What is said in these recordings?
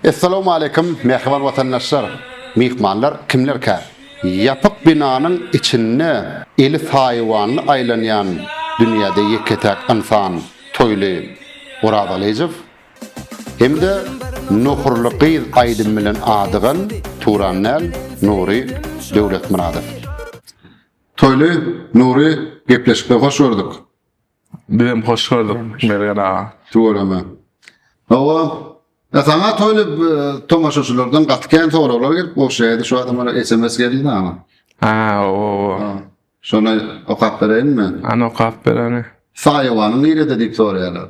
Essalamu aleýkum mähriban watandaşlar, myhmanlar kimlerkä? Ýapyk binanyň içinde eli saýawanly aýlanýan dünýäde ýeke-täk ynsan Toýly Orazalyjow hem-de Nohurly gyz aýdymy bilen adygan Turan däl, Nury Döwletmyradow. Toýly, Nury, gepleşikde hoş gördük. Bizem hoş gördük Mergen aga. Tüweleme. Hawa, e, saňa toýly e, tomaşaçylardan gaty kän soraglar gelip bolşaýdy. Şu adamlara SMS geldi ama. Ha, o, o. Ha, Şony okap bereýinmi? Anokap bereni. Saýawanyň nirede diýip soraýarlar.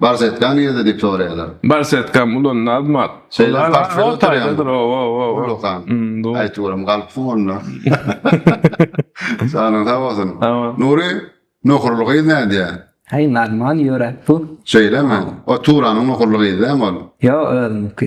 Barsetka nirede diýip soraýarlar. Barsetkam ulan Nazmat. Şeýle parkda oturýandyr. Ullakan. Aýt görüm galypsyň onda. Janyň sag bolsun. Nury nohurly gyz nädýär? Heý Nazman ýöräp dur. Şeýlemi? O Turanyň nohurly gyzy dämi ol? Ýok özüniňki.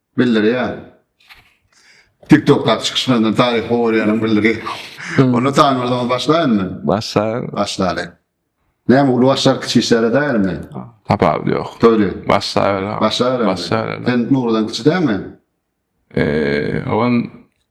bildirýär. TikTokdaky çykyşlaryndan taryhy görýänim bildirýär. Hmm. Onda tanymazdan başlaýynmy? Başlaýyn. Başlaýyn. Näme uly başlar kiçi işlere däýermi? Tapawut ýok. Toýly. Başlaýyn. Başlaýyn. Başlaýyn. Sen Nurdan kiçi dämi? Eee, owan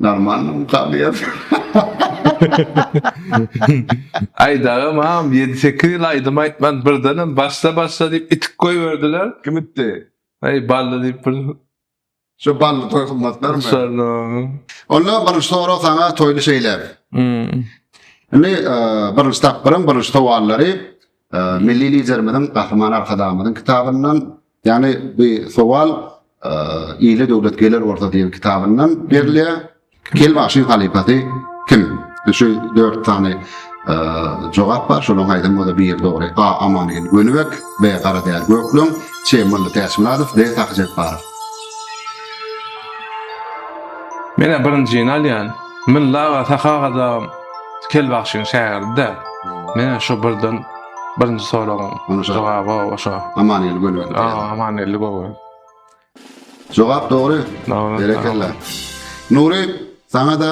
Normalno ukalyas. Aý daga mam ýedi sekiz ýyl aýdym aýtman birdenem başla başla diýip itik goýberdiler. Kim itdi? Aý bally diýip bir. Şu bally toý gymmatlarmy? Şonda. Onda bir sorag saňa toýly şeýle. Indi birinji tapgyryň birinji sowallary Milli Liderimiziň, Gahryman Arkadagymyzyň kitabyndan, ýagny bu sowal Ile döwlet geler bolsa diýen kitabyndan berilýär. Kel bagşyň halypasy kim? Şu dört sany jogap bar. Şolaryň haýsam bolsa biri dogry. A. Amangel Gönübek, B. Garadäli Gökleň, C. Mylly Täçmyradow, D. Sahy Jepbarow. Men-ä birinjini alýan. Mylla aga Saha Gazagym Kel bagşyň şägirdi-dä. Menä şu birden birinji soragyň jogaby oşa. Amangeldi Göwel. A, Amangeldi Göwel. Jogap dogry. Berekella. Nury, saňa-da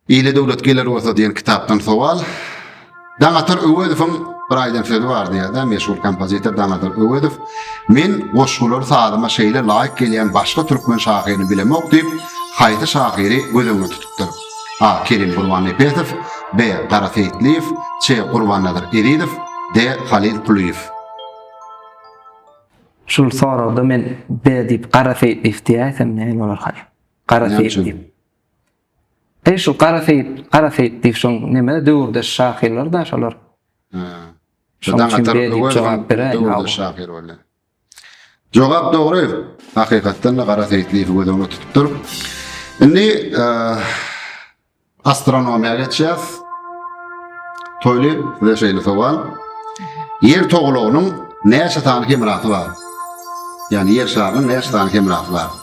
Ile döwlet geler bolsa diýen kitapdan sowal. Daňatar Öwezowyň bir aýdan sözi bar diýýär-de, meşhur kompozitor Daňatar Öwezow, Men goşgular sazyma şeýle laýyk gelýän başga türkmen şahyryny bilemok diýip, haýsy şahyry göz öňüne tutupdyr? A. Kerim Gurbannepesow, B. Gara Seýitliýew, Ç. Gurbannazar Ezizow, D. Halyl Kulyýew. Şul soragda men B diýip Gara Seýitliýew diýäýsem näme bolarkaýyn? Gara Seýitliýew. Eý şu Gara Seýit, Gara Seýit diýip şoň neme döwürdeş şahyrlar da şolar. Hä. Şoň üçin beýle diýip jogap beräýin. Döwürdeş şahyr bolýar. Jogap dogry. Hakykatdan-da Gara Seýit diýip göz öňünde tutupdyr. Indi astronomiýa geçýäs. Toýly we şeýle sowal. Ýer togalagynyň näçe sany hemrasy bar? Ýani ýer şarynyň näçe sany hemrasy bar?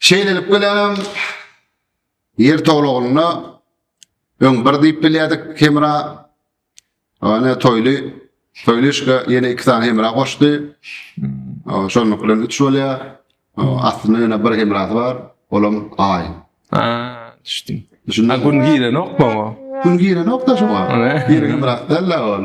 Şeýlelik bilen hem Ýer tolagynda öň bir diýip bilýärdik hemra, ýöne Toýly Toýly işge ýene iki sany hemra goşdy. Hmm. Şonuň bilen üç bolýar. Aslynda ýene bir hemrasy bar, olam Aý. Ha, düşdüm. Düşündin? Gün girenokmy o? Gün girenok da şoňa. Ýeriň hemrasy däl-ä ol.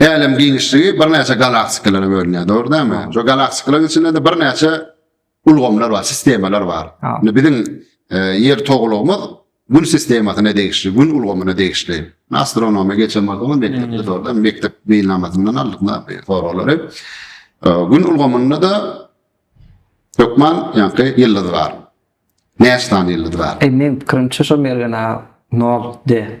Älem giňişligi birnäçe galaktikalara bölünýär, dogry dälmi? Şo galaktikalar içinde-de birnäçe ulgamlar bar, sistemalar bar. Indi biziň e, ýer toglugymyz Gün sistemasyna degişli, Gün ulgamyna degişli. Astronomiýa geçen bolsa, mekdepde dogry, mekdep meýilnamasyndan aldyk soraglary. E, Gün ulgamynda da hökman ýaňky ýyldyz bar. Näçe sany ýyldyz bar? E, men pikirimçe şo Mergen aga 0 D.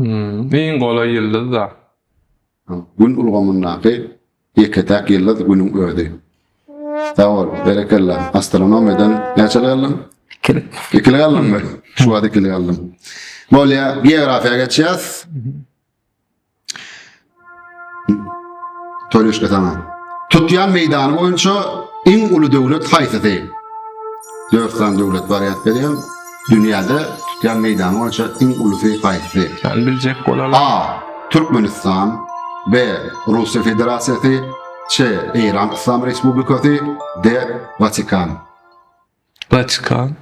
Iň golaý ýyldyz-da. Gün ulgamyndaky ýeke-täk ýyldyz Günüň özi. Sag bol, berekella. Astronomiýadan näçe galdyň? Ikili. Ikili galdyňmy? Şu wagt ikili galdym. Bolýar, geografiýa geçýäs. Toreşka sana. Tutýan meýdany boýunça iň uly döwlet haýsysy? Dört sany döwlet bar ýat berýän. Dünýäde tutýan meýdany boýunça iň ulusy haýsysy? Sen biljek bolaly. A. Türkmenistan B. Russiýa Federasiýasy C. Eýran Yslam Respublikasy D. Watikan Watikan.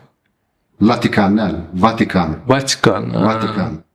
Latikan däl, Watikan. Watikan. Watikan.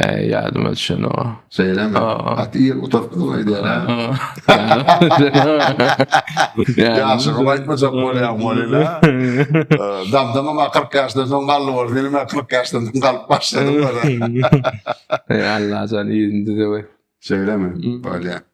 Äý, ýadyma düşenok-a. Şeýlemi? Gaty ir gutartdyň aýdýan-a. Ýaşyňy aýtmajak bolýaň welin-ä. Dabdamam kyrk ýaşdan soň galdy bolsa, indi men kyrk ýaşdan soň galyp başladym welin. Allajan yzyny düzübi. Şeýlemi? Bolýa.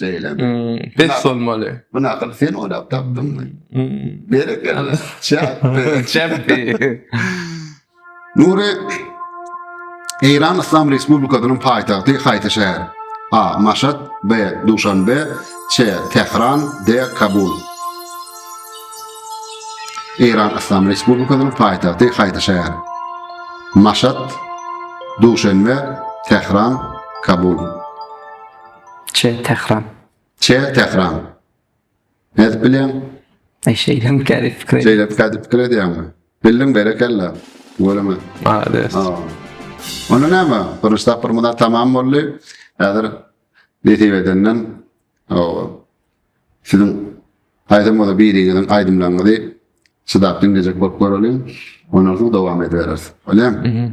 Şeýle. Pes bolmaly. Bu nakyl sen oýlap tapdyňmy? Berekella. Çäpdi. Çäpdi. Nury Eýran Yslam Respublikasynyň paýtagty haýsy şäher? A. Maşat B. Duşanbe C. Tähran D. Kabul Eýran Yslam Respublikasynyň paýtagty haýsy şäher? Maşat Duşanbe Tähran Kabul Ç. Tähran. Ç. Tähran. Nädip bilýäň? E, şeýlem kädip pikir edýän. Şeýlem kädip pikir edýäňmi? Bildiň, berekella. Göreme. Malades. Ha. Onda näme? Birinji tapgyr muna tamam boldy. Häzir nesip edenden o siziň aýdym bolsa biriňiziň aýdymlaryňyzy çydap diňlejek bolup göreliň. Ondan soň dowam edibereris. Bolýamy?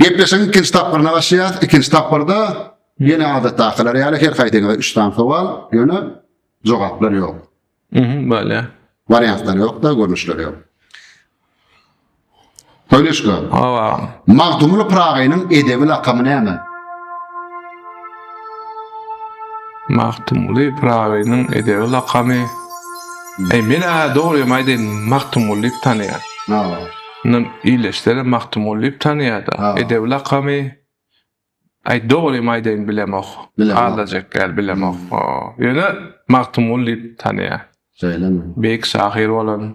Gepleşigiň ikinji tapgyryna başlaýarys. Ikinji tapgyrda ýene adatdakylar ýaly her haýsyňyza üç sany sowal, ýöne jogaplar ýok. Mhm, bolýar. Wariantlar ýok-da, görnüşler ýok. Söýleşge. Hawa. Magtymguly Pyragynyň edebi lakamy näme? Magtymguly Pyragynyň edebi lakamy Eý, men-ä dogrymy aýdaýyn, Magtymguly diýip tanaýar. Ynha, ildeşlerem Magtymguly diýip tanaýar-da. Edebi lakamy Eý, dogrymy aýdaýyn, bilemok. Aldajak däl, bilemok. Ýöne Magtymguly diýip tanaýar. Şeýlemi? Beýik şahyr bolan.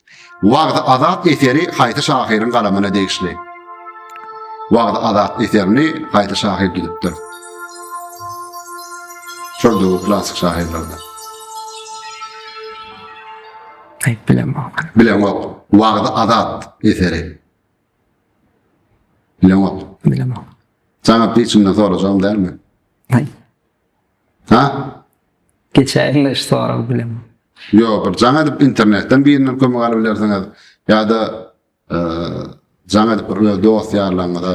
Wagzy Azat eseri haýsy şahyryň galamyna degişli? Wagzy Azat eserini haýsy şahyr düzüpdir? Şol döwür klassyk şahyrlardan. Aýt bilemok. Bilemok. Wagzy Azat eseri. Bilemok. Bilemok. Jaňa piçimden sorajagym dälmi? Aýt. Ha? Geçäýiň-le iş sorag bileman. Ýok, bir jaň edip internetden birinden kömek alyp bilersiňiz ýa-da jaň edip bir öz dost ýarlaryňyza.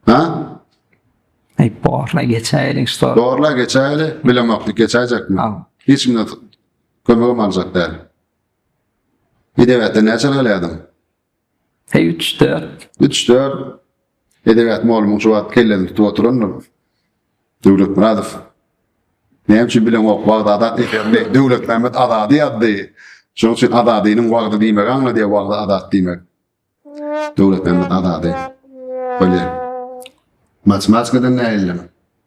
Ha? Aý, borla geçäýeli iş sorag. Borla geçäýeli, bilemok, geçäýjekmi? Ha. Hiç kimden kömegim aljak däl. Edebiýatda näçe alýardyň? He üç dört. Üç dört. Edebiýat molumyň şu wagt kellesini tutup oturandyr. Döwletmyradow. Näme üçin bileňok wagt adat diýýärdi. Döwletmämmet azady ýazdy. Şonuň üçin azadynyň wagdy diýmegi aňladýar wagdy adat diýmek. Döwletmämmet azady. Bolýar. Matematikadan näýildim.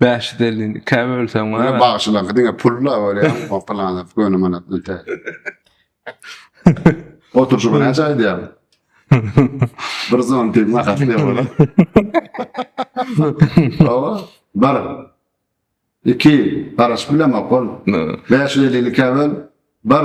Bäşi delini ikä bölseň bar. Ýa bagşylaňky diňe pulla bolýar, o plana göni manat ünte. Oturşymy näçe aýdýaň? Bir zontiň bahasy ne bolar? Hawa, bir. Iki, garaşyp bilemok ol. Bäşi delini ikä böl, bir.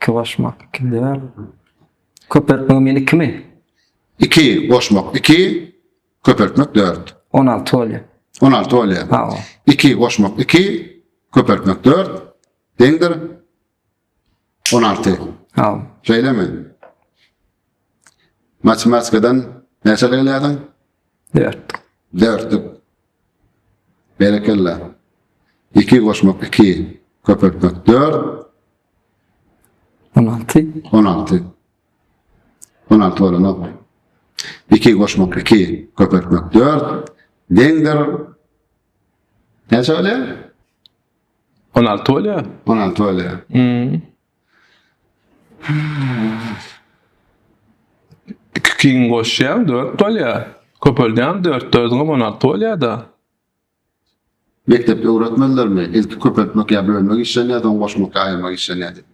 Iki goşmak iki däl. Köpeltmegiň meni ikimi? Iki goşmak iki, köpeltmek dört. On alty bolýar. On alty bolýar. Hawa. Iki goşmak iki, köpeltmek dört. Deňdir. On alty. Hawa. Şeýlemi? Matematikadan näçe gelýärdiň? Dört. Dörtlük. Berekella. Iki goşmak iki. Köpeltmek dört. On alty. On alty. On alty olanok. İki goşmak iki. Köpeltmek dört. Deňdir. Näçe olýar? On alty olýar. On alty olýar. Hmm. Iki ikiň goşýaň dört bolýar. Köpeldýäň dört dördiňem on alty bolýar-da. Mekdepde öwretmedilermi? Ilki köpeltmek ýa bölmek işlenýär, soň goşmak ýa aýyrmak işlenýär diýip.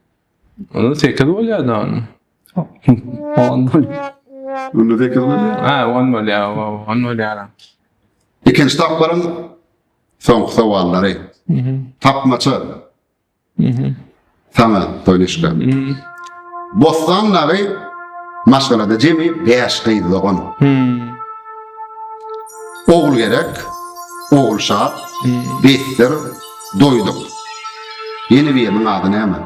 Onda sekiz bolýar-da onda. On bolýar. Onda sekiz bolýar. Hä, on bolýar, oba, on bolýar-a. Ikinji tapgyryň soňky sowallary. Tapmaça. Saňa Toýnuşka. Bossan dagy maşgalada jemi bäş gyz dogan. Ogulgerek, Ogulşat, Betdir, Doýduk. Ýene biriniň ady näme?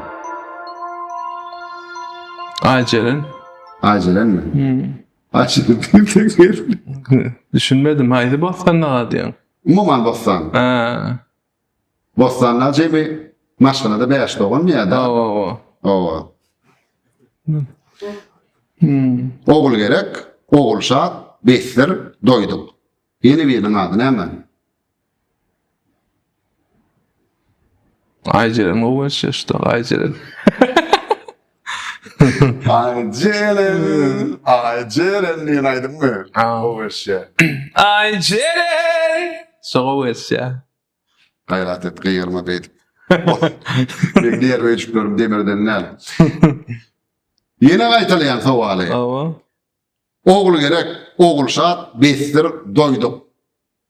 Aýjeren. Aýjerenmi? Aýjeren. Düşünmedim. Haýsy Bossan daga diýýäň? Umuman Bossan. Bostanlar jemi maşgalada bäş doganmy ýa-da? Hawa, hawa. Hawa. Hmm. Ogulgerek, Ogulşat, Besdir, Doýduk. Ýene biriniň ady näme? Aýjeren gowy geçýär şu dag, Aýjeren. Ay Ceren, ay Ceren diýen aýdymmy? Gowy wersýa. Ay Ceren. Şo gowy wersýa. Gaýrat et, gygyrma beýdip. Meň diýer öýjüklerim demirden näl. Ýene gaýtalaýan sowaly. Awa. Ogul gerek, Ogulşat, Besdir, Doýduk.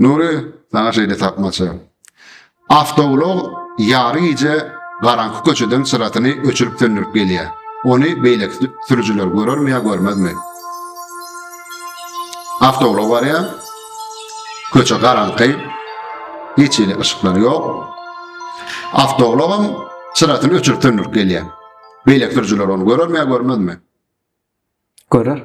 Nury, saňa şeýle tapmaça. Awtoulag ýary gije garaňky köçeden çyrasyny öçürip-söndürip gelýär. Ony beýleki sürüjiler görermi ýa görmezmi? Awtoulag barýar. Köçe garaňky. Hiç hili yşyklar ýok. Awtoulagam çyrasyny öçürip-söndürip gelýär. Beýleki sürüjiler ony görermi ýa görmezmi? Görer.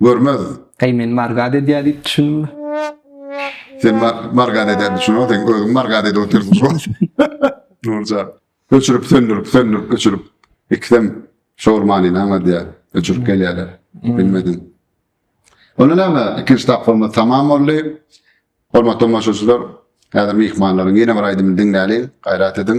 Görmez. Äý men margat edýär diýip düşündiňmi? Sen margat edýär düşüneňok, sen özüň margat edip otyrsyň şo. Nurjan. Öçürip söndürip, söndürip öçürip. Ikisem şor manyny aňladýar. Öçürip gelýärler. Bilmediň. Onda näme? Ikinji tapgyrymyz tamam boldy. Hormatly tomaşaçylar, häzir myhmanlaryň ýene bir aýdymyny diňläliň, gaýrat ediň.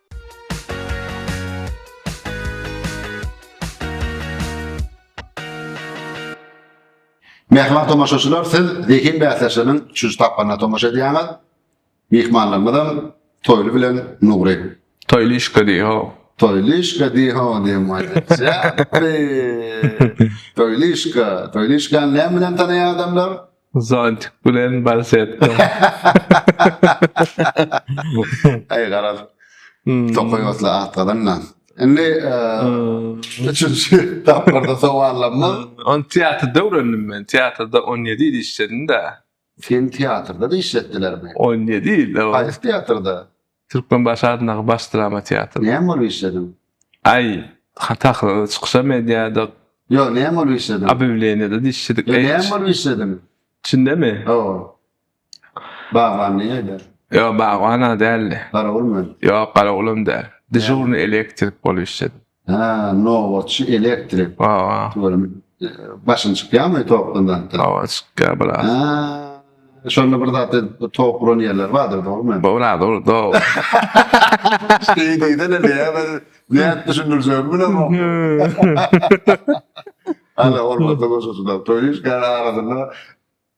Mähriban tomaşaçylar, siz zehin bäsleşiginiň üçünji tapgyryna tomaşa edýäňiz. Myhmanlarymyzam Toýly bilen Nury. Toýlyşka diý ho. Toýlyşka diý ho diýen maýda. Toýlyşka, Toýlyşkany näme bilen tanaýar adamlar? Zontik bilen balsetka. Aý garaz. Tokaý otly at gazanma. Indi üçünji tapgyrda sowallarymyz. Ony teatrda öwrendim men. Teatrda 17 ýyl işledim-de. Seni teatrda-da işletdilermi? 17 ýyl, hawa. Haýsy teatrda? Türkmenbaşy adyndaky baş drama teatry. Näme bolup işlediň? Aý, sahnada çykyşam edýärdik. Ýok, näme bolup işlediň? Obýawleniýada dişçidik. Ýok, näme bolup işlediň? Çündemi? Hawa. Bagban näde? Ýok, bagban-a däldi. Garawulmy? Ýok, garawulam däl. Dežurnyý elektrik bolup işledim. Ha, nobatçy elektrik. Hawa. Görüm, başyň çykýarmy tokdan zatdan? Hawa, çykýar biraz. Ha, şonda bir zat edip tok uran ýerler bardyr, dogrumy? Bora, dogry, dogry. Şeýle diýsene, näme ben nädip düşündirjegimi bilemok. Hala bolmasa goşasyna toýuş gara arasynda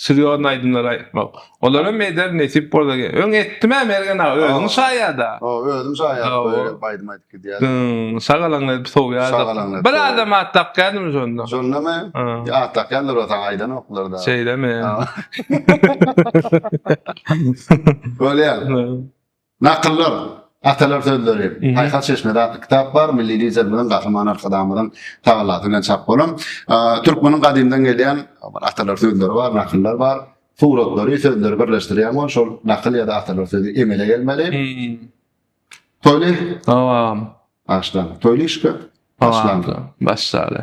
Serýozny aýdymlar aýtmak. Olaram eder nesip bolsa ge. Öň etdim-ä Mergen aga, özüň Hawa. şaýada. Hawa, özüm şaýat Hawa. böyle aýdym aýdyp gidýär. Hımm, şagalaňy edip sowýardyk. Şagalaňy edip Bir sowýardyk. adam at dakýardymy şonda? Şondamy? Ha. Ýa at dakýandyr ol saňa aýdanoklar da. Şeýlemi? Hawa. Bolýar. Nakyllar, Atalar sözleri, Paýhas çeşmede atly kitap bar, milli Liderimiziň, Gahryman Arkadagymyzyň tagallasy bilen çap bolan. Türkmeniň gadymdan gelýän bir atalar sözleri bar, nakyllar bar. Suratlary, sözleri birleşdirýän bol, şol nakyl ýa-da atalar sözi emele gelmeli. Toýly. Dowam. Başdan. Toýly işge. Başlangy. Başlaly.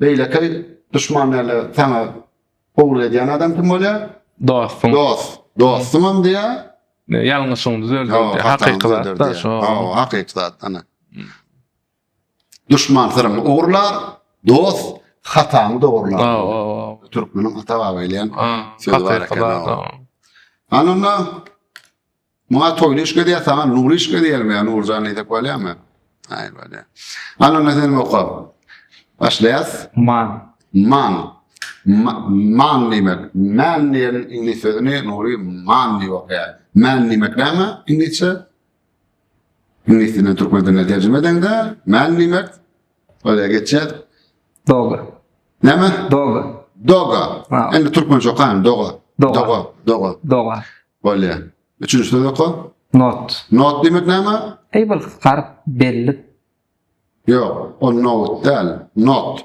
Beýlekeý duşman däl-de saňa gowulyk edýän adam kim bolýar? Dostuň. Dost. Dostuňam diýýär. Ýalňyşyňy düzeldýär diýýär. Hakyky zat-da şo. Hawa, hakyky zat ana. Duşman syryňy ogurlar, dost hataňy dogrular. Hawa, hawa. Türkmeniň ata-baba eýlän sözi bar eken. Hakyky zat. Ananda Muňa toýly iş gedeýär, saňa nurly iş gedeýärmi, ýa Nurjan diýsek bolýarmy? Aý bolýar. Allan sen oka. Başlaýas. Man. Man. Man diýmek. Man diýen iňlis sözüni Nury man diýip okaýar. Man diýmek näme iňlisçe? Iňlis dilinden türkmen diline terjime edeňde, man diýmek Öyle geçer. Doga. Ne mi? Doga. Doga. Ha. Endi Türkmen çok aynı. Doga. Doga. Doga. Doga. Doga. Öyle. Üçüncü söz oku. Not. Not demek ne mi? Ey bir garip belli. Yok. O not değil. Not.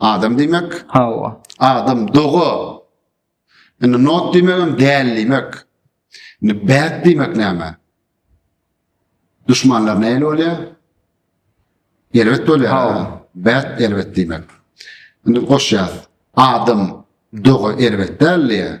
Adam diýmek. Hawa. Adam doga. Indi not diýmek hem däl diýmek. Indi bad diýmek näme? Düşmanlar näle bolýar? Elbet bolýar. Hawa. Bad elbet diýmek. Indi goşýar. Adam doga elbet däl diýär.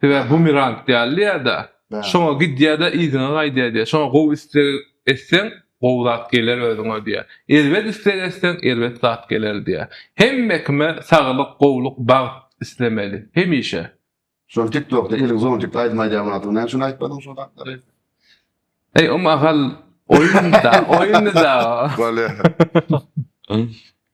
Sebäbi bumerang däl diýýär-dä. Şoňa gidýär-de, yzyňa gaýdýar diýýär. Şoňa gowy isleg etseň, gowy zat geler özüňe diýýär. Erbet isleg etseň, erbet zat geler diýýär. Hemme kime saglyk, gowluk, bagt islemeli. Hemişe. Şol tik tokda eliň zontik aýdym aýdýan wagtyň näme üçin aýtmadyň şol zatlary? Eý um agal oýun da oýundy da o. Bolýa.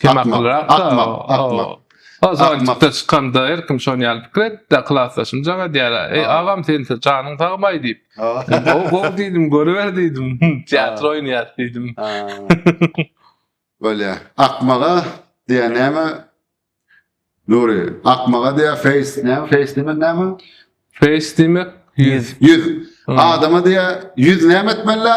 Kim akyllyrak? Akmak, akmak. O zalçykda çykanda her kim şony ýaly pikir etdi. Klasdaşym jaň edýär. Eý, agam sen janyň sagmaý diýip. Gowy diýdim, görüber diýdim. Teatr oýnaýas diýdim. Bolýa. Akmaga diýýä näme? Nury, akmaga diýýä feýs näme? Feýs diýmek näme? Feýs diýmek ýüz. Ýüz. Adama diýýä ýüz näme etmeli?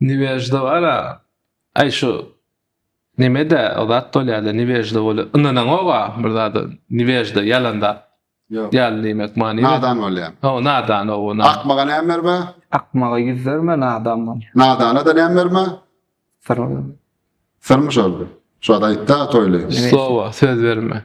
Niweždowara aý şu nemede o zat bolýada niwežda bol ynanaňoga bir zada niwežda ýalan zat Ýok. ýaly diýmek many Nadan bolýar. o nadan o na Akmaga näme berme? Akmaga ýüz berme, nadan bol. Nadana da näme berme? Syr. Syrmy şol? Şu zat aýtda toýly. Nime? slowa söz berme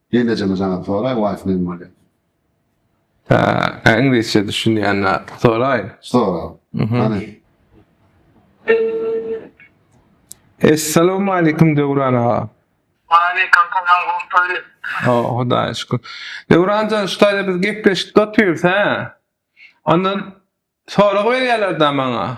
Gelnejeňe jaňa soraý waýs näme bolýar. Haa iňlisçe düşünýän zat soraý. Sora. Hany. Essalowmaleýkum Döwran aga. Waleýkim salam gowy toýly. Oh Hudaýa şükür. Döwranjan şu taýda biz gepleşikde otyrys hä. Ondan sorag berýärler da maňa.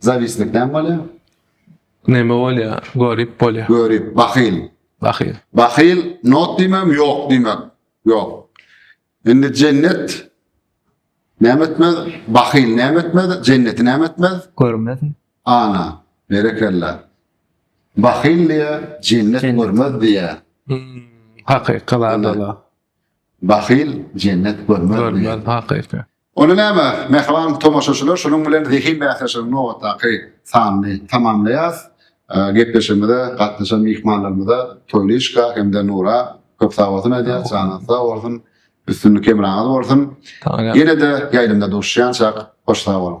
Zawislik näme bolýar? Näme bolýar? Görip bolýar. Görip, bahyl. Bahyl. Bahyl, not diýmem, ýok diýmek. Ýok. Indi jennet näme etmez? Bahyl näme etmez? Jenneti näme etmez? Görmez. Ana, berekella. Bahyl diýär, jennet Jennet. görmez diýär. Hmm, hakyky zat Ana. ola. Bahyl jennet görmez diýär. Görmez hakyky. Onda näme, mähriban tomaşaçylar, şunuň bilen zehin bäsleşiginiň nobatdaky sanyny tamamlaýarys. Gepleşigimize gatnaşan myhmanlarymyza Toýlyşka hem-de Nura köp sag bolsun aýdýarys, janyňyz sag bolsun, üstünlik hemraňyz bolsun. Ýene-de ýaýlymda duşuşýançak, hoş sag boluň!